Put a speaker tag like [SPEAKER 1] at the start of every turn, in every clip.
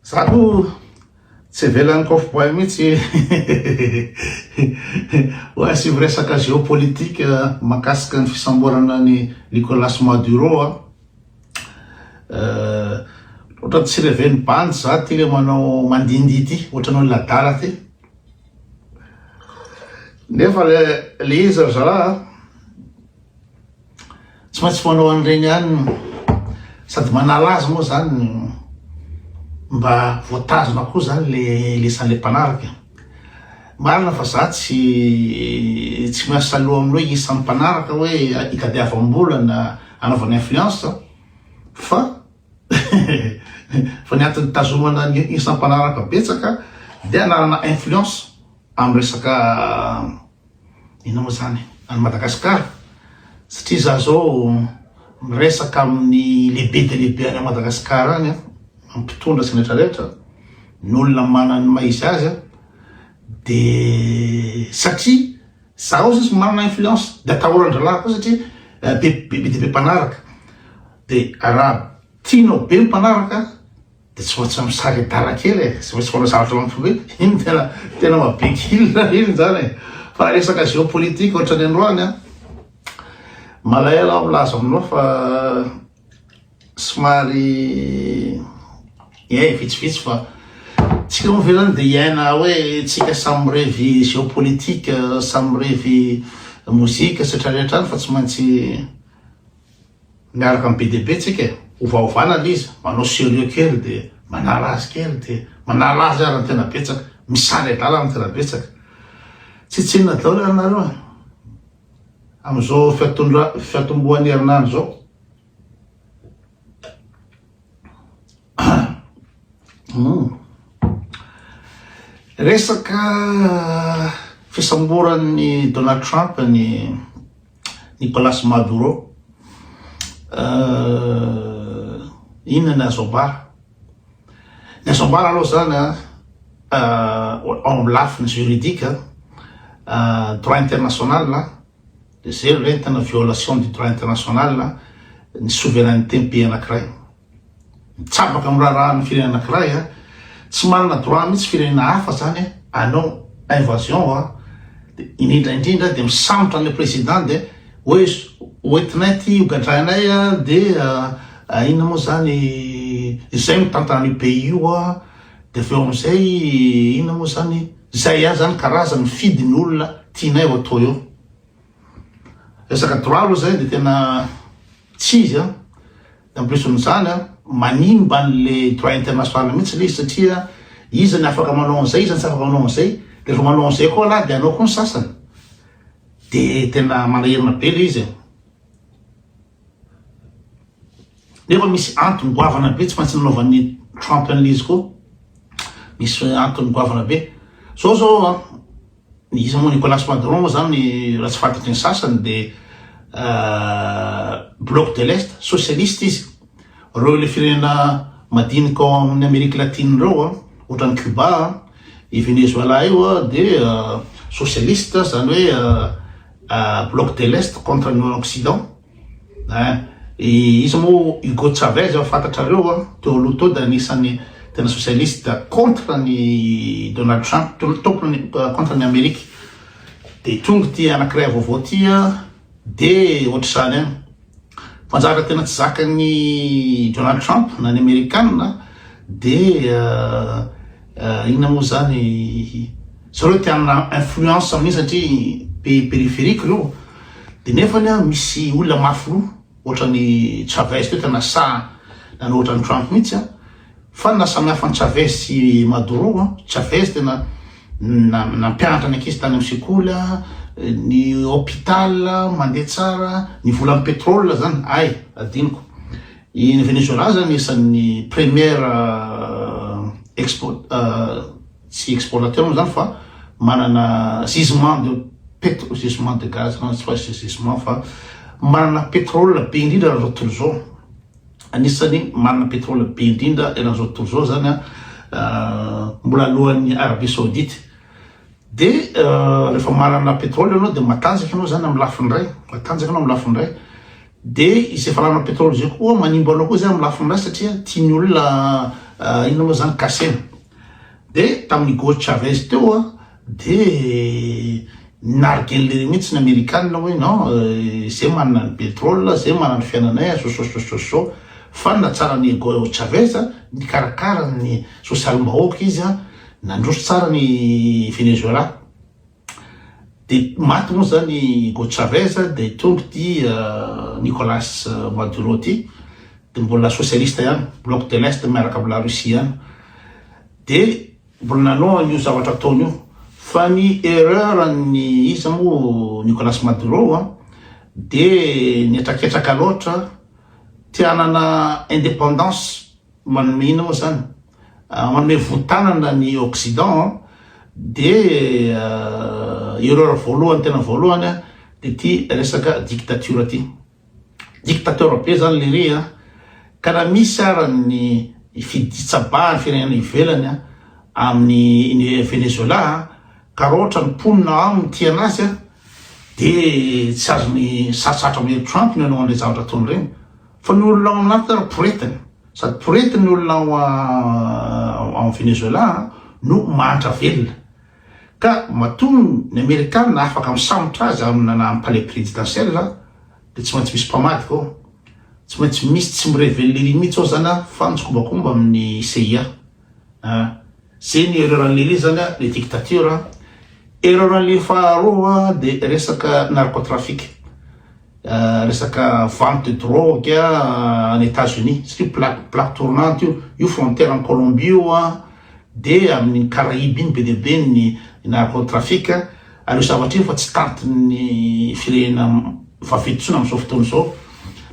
[SPEAKER 1] Za aloha tsy avelan'ny coff boy mihitsy hoe asivo resaka géopolitique mahakasika ny fisamborana an'i Nicolas Maduro a! Ohatran'ny tsy reven'ny bandy za ity le manao mandihindihy ity, ohatran'ny olona adala ity. Nefa le izy ry zalahy a! Tsy maintsy fanao an'ireny ihany sady manala azy moa zany mba voatazona koa zany le lesan'le mpanaraka. Marina fa za tsy tsy miasaloha amin'ny hoe isan'ny mpanaraka hoe itadiavam-bolana anaovana influence fa fa ny antony tazomana ny isan'ny mpanaraka betsaka dia anarana influence amin'ny resaka Inona moa izany? Any Madagasikara? Satria izaho izao miresaka amin'ny lehibe dia lehibe any Madagasikara any, amin'ny mpitondra sy ny rehetra rehetra, ny olona manana ny maha izy azy an, dia satria izaho sisa manana influence, dia atahoran-drahalahy koa satria be dia be mpanaraka, dia raha tianao be ny mpanaraka, Dia tsy maintsy misare-dala kely e, tsy maintsy manao zavatra mampiova e, iny tena tena mabe kila iny zany e. Fa raha resaka géopolitique ohatra ny androany an, malahelo aho milaza aminao fa somary eh vitsivitsy fa tsika moa ve zany dia hiaina hoe tsika samy mirevy géopolitique, samy mirevy mozika sy rehetra rehetra any fa tsy maintsy Miaraka amin'ny BDB tsika e! Ovaovana le izy, manao serieux kely de manala azy kely de manala azy ary ny tena betsaka, misary adala ny tena betsaka. Tsy tsinona daholo ary nareo an! Amin'izao fiatondra, fiatombohan'ny herinandro zao. Hum. Resaka fisamboran'ny Donald Trump ny Nicolas Maduro, euh, inona ny azo ambara? Ny azo ambara aloha zany an, euh, ao amin'ny lafiny juridique, euh, droit international, dia zay no entina violation du droit international, ny souveraineté ny pays anankiray. Mitsabaka am raharaha ny firenena anakiray a! Tsy manana droit mitsy firenena hafa zany e! Anao invasion a! De indrindra indrindra de misambotra anle president de oe hoentinay ty hogadrainay a! De inona moa zany izay mitantana anio pays io a! De aveo amizay inona moa zany zay ihany zany karazany mifidy ny olona tianay ho atao eo! Resaka droit aloha zay de tena tsy izy a! En plus n'izany, manimba an'le droit international mihitsy le izy satria iza ny afaka manao an'izay, iza ny tsy afaka manao an'izay, de refa manao an'izay koa lah de hanao koa ny sasany. De tena manahirana be le izy e. Nefa misy antony goavana be tsy maintsy nanaovan'i Trump an'le izy koa. Misy antony goavana be. Zao zao an. Iza moa Nicolas Madron moa zany raha tsy fantatry ny sasany dia bloc de l'est socialiste izy. Reo le firenena madinika ao amin'ny Amerique Latine reo an, ohatran'i Cuba an, i Venezuela io an dia socialiste zany hoe bloc de l'est contre ny occident. Iza moa Hugo Chavez efa fantatrareo an, teo aloha teo dia anisan'ny tena socialiste contre ny Donald Trump, tena tompony contre ny Amerika. Dia tonga ity anankiray vaovao ity an, dia ohatr'izany ihany. Fanjaka tena tsy zakan'ny Donald Trump na ny Amerikana dia Eh, inona moa zany zareo te hanana influence amin'iny satria pays périphérique ireo de nefany a misy olona mafy loha ohatran'ny Chavez teo tena sahy nanao ohatran'ny Trump mihitsy a fa ny nahasamihafa an'i Chavez sy Maduro a Chavez tena na- nampianatra ny ankizy tany amin'ny sekoly a ny hôpital mandeha tsara ny volan'ny pétrole zany ay adinoko I Venezuela zany isan'ny premier expo tsy explorateur moa zany fa manana gisement de petro gisement de gaz na tsy fa gisement fa manana pétrole be indrindra eran'izao tontolo izao anisany manana pétrole be indrindra eran'izao tontolo izao zany a mbola alohan'ny Arabie Saoudite de rehefa manana pétrole ianao de matanjaka ianao zany amin'ny lafiny iray matanjaka ianao amin'ny lafiny iray Dia izay valala pétrole izay koa manimba anao koa zay amin'ny lafiny ratsy satria tian'ny olona inona moa zany kasena. Dia tamin'ny Hugo Chavez teo a dia nargellery mihitsy ny Amerikanina hoe non izay manana ny pétrole izay manana ny fiainanay a sososososo fa ny nahatsaran'i Hugo Chavez nikarakara ny sosialim-bahoaka izy a nandroso tsara ny Venezuela. Dia maty moa izany i Hugo Chavez dia tonga ity Nicolas Maduro ity dia mbola socialiste ihany, bloc de l'est miaraka amin'ny la Russie ihany. Dia mbola nanao an'io zavatra ataony io. Fa ny erreur an'ny iza moa Nicolas Maduro dia nihetraketraka loatra, te hanana indépendance. Manome inona moa zany? Manome votanana ny occident an, de erreur voalohany tena voalohany an, de ty resaka dictature ty. Dictateur be zany lery an, ka raha misy ara ny fitsabahan'ny firenena ivelany an, amin'ny Venezuela an, ka raha ohatra ny mponina ao aminy tia anazy an, de tsy azony sarotsarotro amin'ny heritro antony ianao an'ireny zavatra ataony ireny. Fa ny olona ao amin' aty ary poretina, sady porety ny olona ao ao Venezoelà no mahantra velona. Ka matoa ny Amerikana afaka misambotra azy amina na palais présidentiel dia tsy maintsy misy mpamadika ao, tsy maintsy misy tsy mi-reveler-y mihitsy ao izany a, fa mitsikombakomba amin'ny CIA. Ah zay ny erreur anle le zanga le dictature an! Erreur anle faharoa de resaka narcotrafic ah, resaka vente de drogue ah, any Etats Unis satria plaque plaque tournante io, io frontière any Colombie io an, de aminy Caraïbes iny be dia be ny narcotrafic. Ary io zavatra io efa tsy tantin'ny firenena vaventy intsony amin'izao fotoana izao.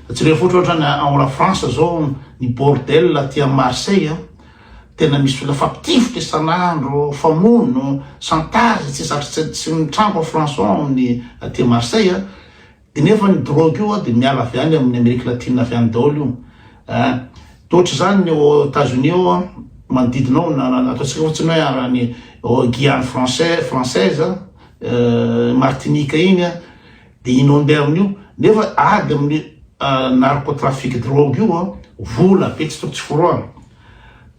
[SPEAKER 1] Jereo foatra ohatra ny ao La France izao ny bordel aty amin'ny Marseille a. Tena misy olona fapitifotra isan'andro, famono, chantage, tsy zatra tsy tsy mitranga ao France ao amin'ny aty Marseille a. Dia nefa ny drogue io dia miala avy any amin'ny Amerique Latine avy any daholo io eh. Dia ohatr'izany ny ao Etats-Unis ao an, manodidina ao na ataontsika fotsiny hoe ary any ao Guyane français, française an, eh, Martinique iny an, dia inondé amin'io. Nefa ady amin'ny eh, narcotrafic drogue io an, vola be tsy tokony tsy forohana.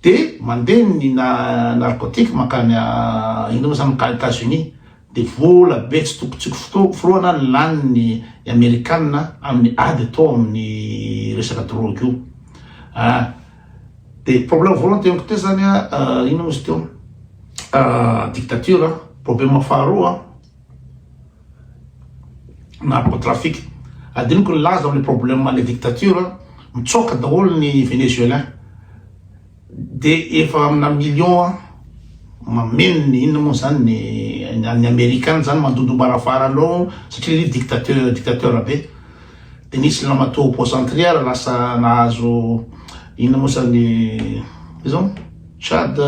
[SPEAKER 1] Dia mandeha ny na- narcotique mankany ah, ino moa izany, mankany Etats-Unis. dia vola be tsy toko tsy forohana ny lany ny amerikana amin'ny ady atao amin'ny resaka drogue io ah dia problème voalohany teniko teo zany a ah, ino izy teo ah, dictature ah. problème faharoa ah. narcotrafic adiniko ny laza amin'ny problème le dictature mitsoka daholo ny venezuelin De efa amina million an! Mameno ny inona moa zany ny ny Amerika any zany mandondombarafara anao satria ry dictateur dictateur be de nisy lamatoa au poste antriara lasa nahazo inona moa zany izao Chad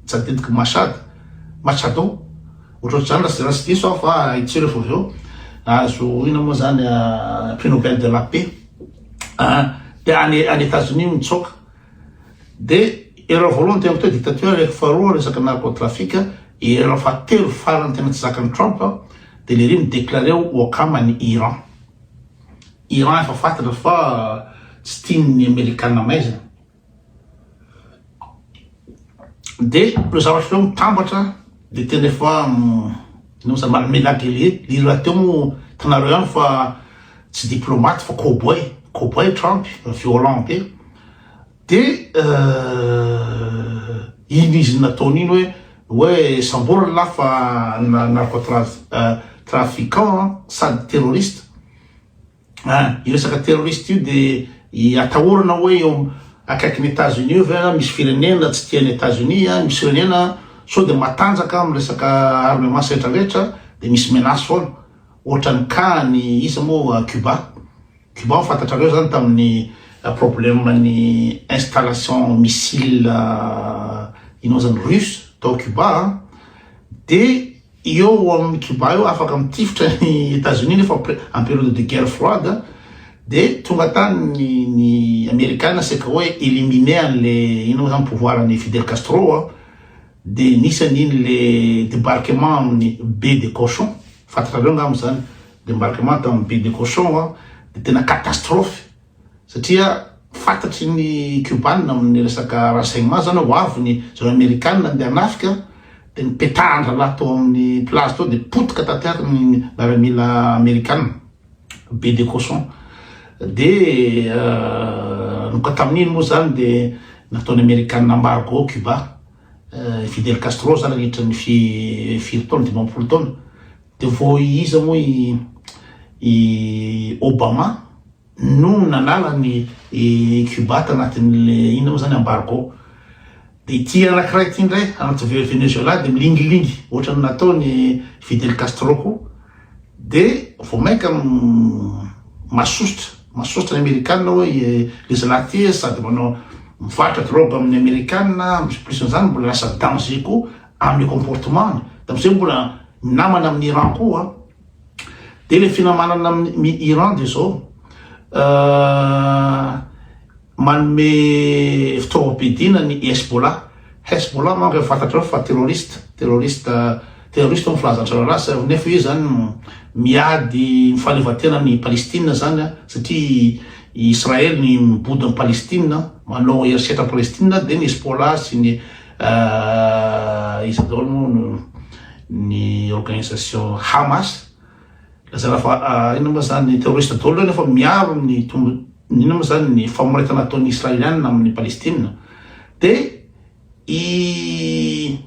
[SPEAKER 1] tsy adidiko Machad Machado ohatrohatry zany raha raha tsy diso aho fa haintsika refa avy eo nahazo inona moa zany prix Nobel de la paix. any any Etazonia no mitsoaka de erreur voalohany tena atao dictature reko faharoa resaka narco trafic erreur fahatelo farany tena tsy zakan'ny Trump de le ry mi déclarer ho wakam any Iran Iran efa fatatra fa tsy tian'ny Amerikana maizina Dia ireo zavatra efa hoe mitambatra dia tena efa nous a malmené la télé, ry rahateo moa hitanareo ihany fa tsy diplomate fa cowboy, cowboy Trump, violent be, dia iny izy nataony iny hoe hoe samborina lahy fa narcotrafiquant sady terroriste. Ah, io resaka terroriste io dia atahorana hoe eo akaikin'ny États-Unis io ve misy firenena tsy tian'ny États-Unis, ah, misy firenena sao dia matanjaka amin'ny resaka armement sy rehetra rehetra dia misy menace foana. Ohatran'ny cas ny iza moa Cuba. Cuba fantatrareo zany tamin'ny ah, problème ny installation missile ah, inona zany russe tao Cuba ah. dia Eo amin'ny Cuba eo afaka mitifitra an'i Etazonia nefa en période de guerre froide de tonga tany ny Amerikana saika hoe éliminer an'le inona moa zany pouvoir an'i Fidel Castro a de nisy an'iny le débarquement amin'ny baie de cochon fantatrareo angamba zany débarquement tamin'ny baie de cochon a de tena catastrophe satria fantatry ny Kiobana amin'ny resaka renseignement zany ho avy ny zareo Amerikana ndeha hanafika dia nipetahan-drahalahy tao amin'ny plage tao dia potika tanteraka ny miaramila Amerikana be de cochon dia nanomboka tamin'iny moa zany dia nataon'ny Amerikana embargo Cuba Fidel Castro zany nandritra ny firy taona dimampolo taona De vao iza moa i i Obama no nanala ny i Cuba tanatin'le inona moa zany embargo. De ity anakiray ity ndray anaty Venezuela de milingilingy ohatran'ny nataon'i Fidel Castro koa. De vao mainka masosotra masosotra ny Amerikana hoe le zalahy ty sady manao mivarotra drogue amin'ny Amerikana, plus an'izany mbola lasa danger koa amin'ny comportement-ny, dia amizay mbola minamana amin'ny Iran koa, dia ilay finamanana amin'ny Iran dia izao, manome fitaovam-piadiana ny Hezbollah, Hezbollah manko efa fantatrao fa terroriste, terroriste, terroriste hoy ny filazan-drarahalahy, nefa io zany miady fahaleovantena an'i Palestine zany an, satria i Israel ny mibody an'i Palestine, manao herisetra an'i Palestine, dia ny Hezbollah sy ny Ahh iza daholo moa no ny organisation Hamas lazaina fa ahh inona moa zany terroriste daholo reo nefa miaro ny tombo ny inona moa zany ny famoretana ataon'ny Israelianina amin'ny Palestina de i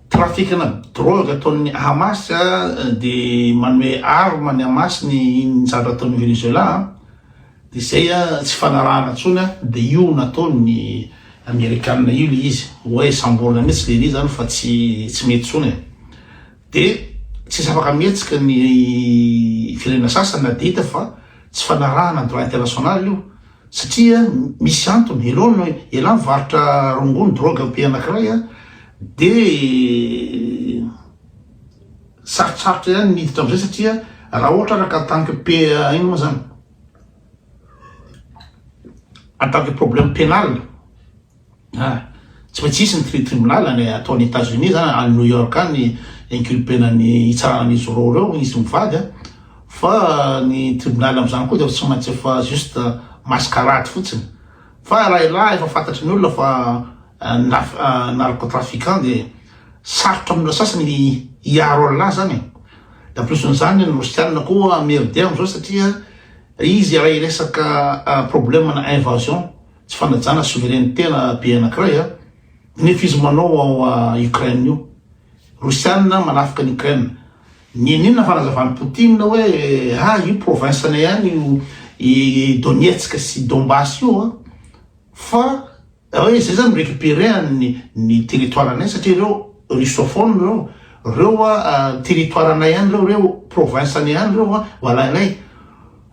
[SPEAKER 1] trafikina drogue ataon'ny Hamas dia manome arme ny Hamas ny ny zavatra ataon'ny Venezuela dia izay tsy fanarahana tsony dia io nataon'ny Amerikana io le izy hoe samborina mihitsy le izy zany fa tsy tsy mety tsony e. dia tsy afaka mihetsika ny firenena sasany na dia hita fa tsy fanarahana droit international io Satria misy antony, elon ny elah mivarotra rongony, drogue am-pe anankiray a, dia sarotsarotra ihany ny hiditra amin'izay satria raha ohatra araka en tant que pe ino moa zany, en tant que problème pénal, Ah, tsy maintsy hisy ny tritribunal any atao any Etats Unis zany, any New York any inculpena ny hitsarana an'izy roa ireo izy mivady a, fa ny tribunal amin'izany koa dia tsy maintsy efa juste mascarade fotsiny, fa raha ilaha efa fantatry ny olona fa naf narcotrafiquant dia sarotra amin'ny olona sasany ny hiaro an'ilaha zany e, dia en plus n'izany ny rosianina koa merde amin'izao satria izy raha hiresaka problème na invasion. Tsy fanajana soveraineté-na be anankiray a. Nefa izy manao ao a Ukraine io. Rosiana manafika an'i Ukraine. Nianiana fanazavan'i Poutine hoe ah io province-nay ihany io i Donetsk sy Donbass io a. Fa hoe izay zany mi-récupérer an'ny ny territoire-nay satria ireo russophone ireo. Reo a territoire-nay ihany reo, reo province-nay ihany reo a ho alainay.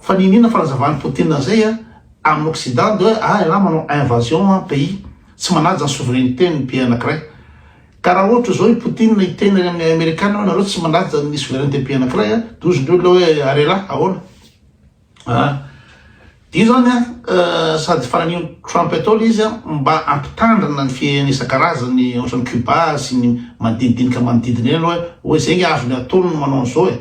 [SPEAKER 1] Fa nianiana fanazavan'i Poutine an'izay a. Amin'ny occident dia hoe ah ialahy manao invasion an pays, tsy manaja ny souveraineté ny pays anakiray. Ka raha ohatra izao i Poutine hiteny any amin'ny amerikana hoe nareo tsy manaja ny souveraineté pays anakiray an, dia hozy ndreo ilay hoe ary ialahy ahoana? Aa io izany an sady fananio Trump atao ilay izy an mba ampitandrina ny fihehena isan-karazany ohatran'ny Cuba sy ny manodinidinika manodidina eny hoe hoe izay nge azony atao no manao an'izao e!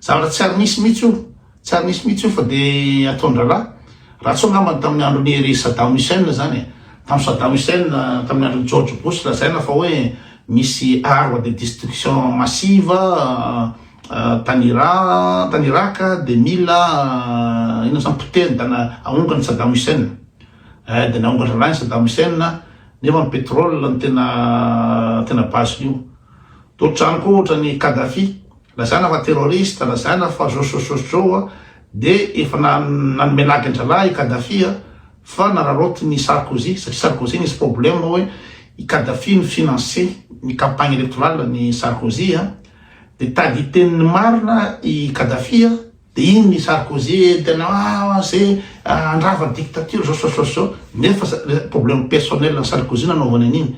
[SPEAKER 1] zavatra tsy ary nisy mihitsy io. Tsary nisy mihitsy io fa dia ataon-draharaha. Raha tsy eo angamba ny tamin'ny andron'i Hery Saddam Hussein izany e. Tamin'i Saddam Hussein, tamin'ny andron'i George Bush lazaina fa hoe misy armes de destruction massive tany Iran, tany Irak dia mila inona izany potehiny dia ahongany Saddam Hussein. Eh, dia nahongan-draharaha i Saddam Hussein nefa ny pétrole no tena tena base-n'io. Dia ohatran'ny koa ohatran'i Kadhafi, Lazaina fa terroriste, lazaina fa josjosjosjo a, dia efa nanome lagy an-drahalahy i Kadhafi a, fa nararaotiny i Sarkozy, satria Sarkozy nisy problème hoe i Kadhafi ni-financer ny campagne électorale an'i Sarkozy a, dia tady hiteny ny marina i Kadhafi a, Dia iny ny Sarkozy eny tena ah ze handrava dictature zao zao zao zao nefa problème personnel ny Sarkozy nanaovany an'iny.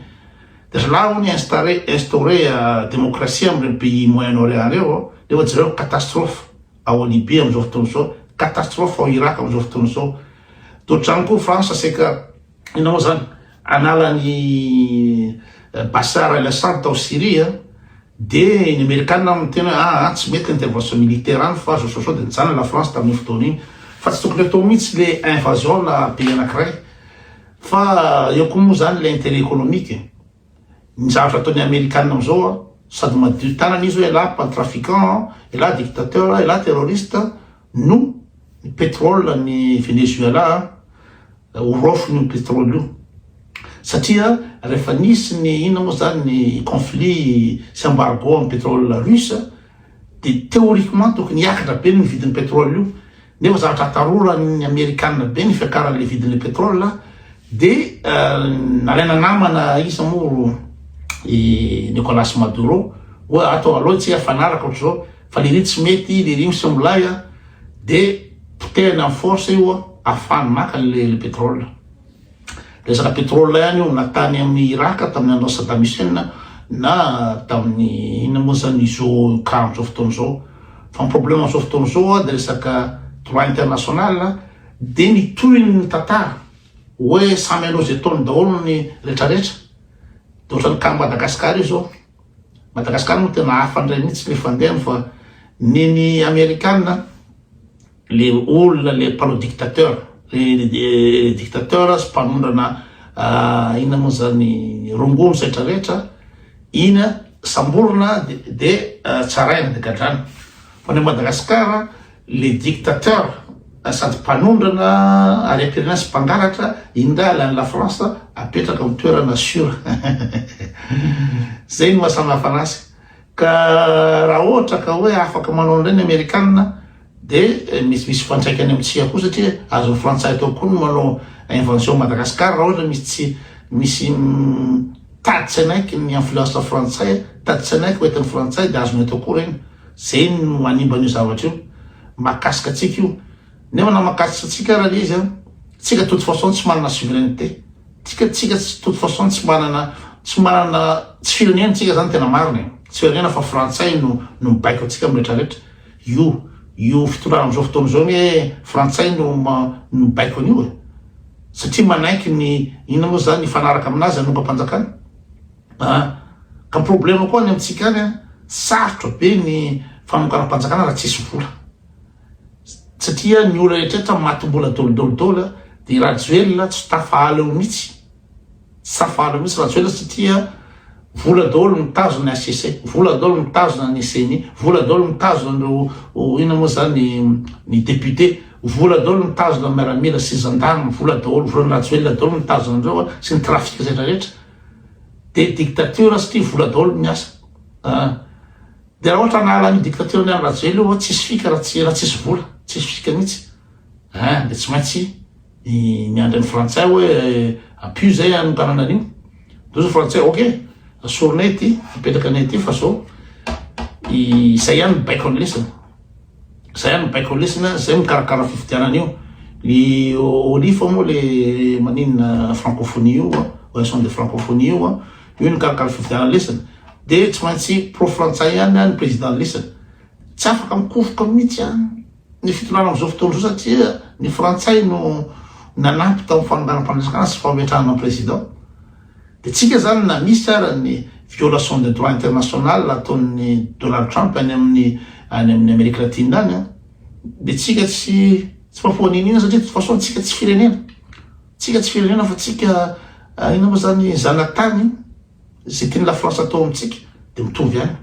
[SPEAKER 1] Dia zalahy hono instaure instaure démocratie amin'ireny pays moyen orient ireo ao nefa jereo catastrophe ao Libye amin'izao fotoana izao, catastrophe ao Irak amin'izao fotoana izao. Toa trano koa France seka Inona moa izany? Analan'i Bashar al-Assad tao Syria, dia ny Amerikana miteny hoe ah, ah, tsy mety intervention militaire any fa zao zao zao, dia nijanona la France tamin'iny fotoana iny. Fa tsy tokony atao mihitsy le invasion-na pays anankiray. Fa eo koa moa izany le intérêt économique e. Ny zavatra ataon'ny amerikana amzao an, sady madio tanana izy hoe ialahy pan trafiquant an, ialahy dictateur an, ialahy terroriste an, no ny petrol an'i Venezuela an, ho raofiny io petrol io. Satria rehefa nisy ny inona moa zany ny conflit sy embargo amin'ny petrol russe dia théoriquement tokony hiakatra be ny vidin'ny petrol io, Nefa zavatra ataroran'ny amerikanina be ny fiakaran'ilay vidin'ilay petrole dia nalaina namana iza moa i Nicolas Maduro hoe ato aloha tsy hiafanaraka ohatr'izao fa le ry tsy mety le ry misy milay a dia potehina force io a afahany maka le petrole Resaka pétrole ihany io na tany amin'ny Irak tamin'ny andron'i Saddam Hussein na tamin'ny inona moa zany izao cas amin'izao fotoana izao. Fa ny problème amin'izao fotoana izao dia resaka droit international dia ny tohiny ny tantara hoe samy hanao izay ataony daholo ny retraretra. Dia ohatran'ny cas Madagascar io izao. Madagascar moa tena hafa indray mihitsy ny fandehany fa ny ny Amerikana le olona le mpanao dictateur le dictateur sy mpanondrana ah, ina moa zany rongony setra rehetra ina samborina de ah, tsaraina de gadrana fa ny madagasikara le dictateur ah, sady mpanondrana ary am-pirenena sy mpangalatra indray alan'ny la france apetraka amin'ny toerana sura zay ny mahasamihafanazy ka raha ohatra ka hoe afaka manao an'ireny amerikana Dia misy misy fifantraikany amin'ny tsia koa satria azon'ny frantsay atao koa ny manao invention à Madagascar raha ohatra misy tsia misy tady tsy hanaiky ny influence frantsay tady tsy hanaiky hoentin'ny frantsay dia azony atao koa ireny zay no hanimba an'io zavatra io mahakasika antsika io nefa na mahakasika antsika ara le izy an tsika de toute façon tsy manana souveraineté tsika tsika tsy toute façon tsy manana tsy manana tsy firenena tsika zany tena marina e tsy firenena fa frantsay no no mibaiko antsika amin'ny rehetra rehetra Io io fitondrana amzao fotoana izao anie frantsay no mibaiko an'io e! satria manaiky ny inona moa zany hifanaraka aminazy anongam-panjakana an! ka ny problema koa any amintsika any an! sarotra be ny fanonganam-panjakana raha tsisy vola satria ny olona rehetra matim-bola daoly daoly daoly an! dia i rajoelina tsy tafahala eo mitsy Safana mihitsy Rajoelina satria vola daholo mitazona ny HCC, vola daholo mitazona ny ceni, vola daholo mitazona an'ireo inona moa zany ny député, vola daholo mitazona ny miaramila sy gendarme, vola daholo, volan'i Rajoelina daholo mitazona an'ireo sy ny trafic rehetra rehetra. Dia dictature satria vola daholo miasa. Ah. Dia raha ohatra anahala an'io dictature ny an'i Rajoelina io, tsisy fika raha tsy raha tsisy vola, tsisy fika mihitsy. Ah, dia tsy maintsy Ny miandry ny frantsay hoe apio zay any Antananarivo. Ndao zao frantsay ok asorinay ity apetraka anay ity fa zao izay ihany ny baiko anlesina. Zay ihany ny baiko anlesina zay mikarakara fifidianana io. Ny olifa moa le maninona francophonie io oaison de francophonie io a io ny karakara fifidianana lesina dia tsy maintsy pro frantsay ihany ny président lesina. Tsy afaka mikofoka mihitsy an. ny fitondrana amin'izao fotoana izao satria ny frantsay no nanampy tamin'ny fanonganam-panjakana sy fametrahana président dia tsika zany na misy ara ny violation de droit international ataon'ny Donald Trump any amin'ny any amin'ny Amérique latine any an dia tsika tsy tsy mapoaniniana satria de façon tsika tsy firenena tsika tsy firenena fa tsika ah, ina moa zany zanatany zay tian'ny la France atao amintsika dia mitovy any